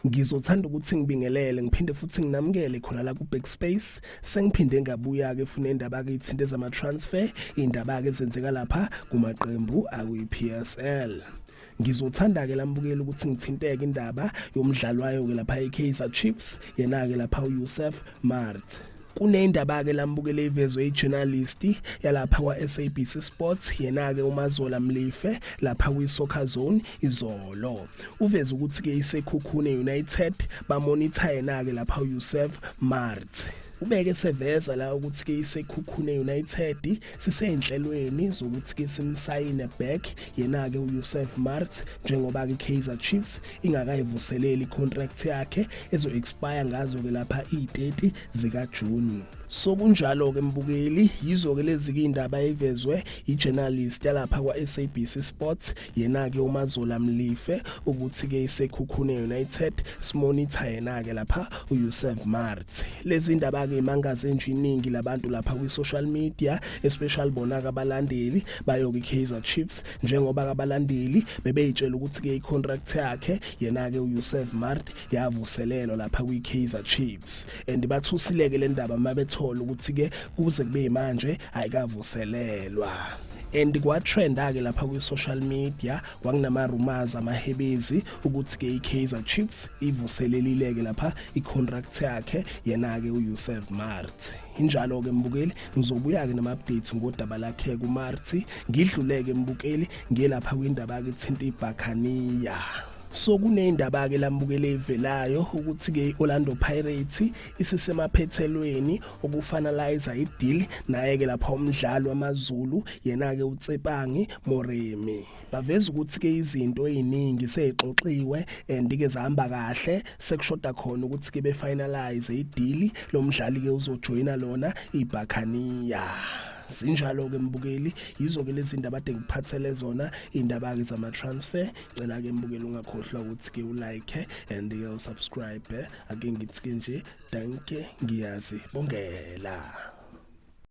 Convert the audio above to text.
ngizothanda ukuthi ngibingelele ngiphinde futhi nginamukele khona la ku Backspace sengiphinde ngabuya ke funa indaba ke ithinte zama transfer indaba ke zenzeka lapha kumaqembu akuyi PSL ngizothanda ke lambukeli ukuthi ngithinteke indaba yomdlali wayo ke lapha eKaizer Chiefs yena ke lapha uYusuf Mart kunendaba ke lambukele ivezwe ijournalist yalapha kwaSABC Sports yena ke uMazola Mlife lapha kwiSoccer Zone izolo uveze ukuthi ke isekhukhune United bamonitor yena ke lapha uYusuf Mart ubeke seveza la ukuthi ke isekhukhune United siseynhlelweni zokuthi ke simsayine back yena ke uYusuf Mart njengoba ke Kaizer Chiefs ingakayivuseleli contract yakhe ezo expire ngazo ke lapha i30 zika June sokunjalo ke mbukeli yizo ke lezi indaba evezwe yijournalist yalapha kwaSABC Sports yena-ke umazola mlife ukuthi-ke isekhukhune united simonitha yena-ke lapha uyusef mart lezi ndaba-ke imangaze nje iningi labantu lapha kwi-social media especially bona-ke abalandeli bayoke i-kaizer chiefs njengoba-ke abalandeli bebeyitshela ukuthi-ke i-contract yakhe yena-ke uyusef mart yavuselelwa lapha kwi-Kaizer Chiefs and bathusileke le ndaba uma bethola ukuthi ke kuze kube manje ayikavuselelwa and kwatrenda-ke lapha kwi-social media kwakunama-rumors amahebezi ukuthi-ke i-kaizer chiefs ivuselelile-ke lapha i-contract yakhe yena-ke uyusef mart injalo-ke mbukeli ngizobuya-ke nama-update ngodaba lakhe kumarti ngidluleke mbukeli ngiyelapha kwindaba-ke ithinta ibhakhaniya so kuneyindaba ke lambukele evelayo ukuthi ke Orlando Pirates isisemaphethelweni okufanalize ideal naye ke lapha umdlalo wamaZulu yena ke uTsepangi Moremi baveza ukuthi ke izinto eziningi seyixoxiwe and ke zihamba kahle sekushoda khona ukuthi ke befinalize ideal lomdlali ke uzojoyina lona iBhakaniya sinjalo ke mbukeli yizo ke lezi ndaba de ngiphathele zona indaba ke zama transfer cela ke mbukeli ungakhohlwa ukuthi ke ulike and ke usubscribe ake ngithi nje danke ngiyazi bongela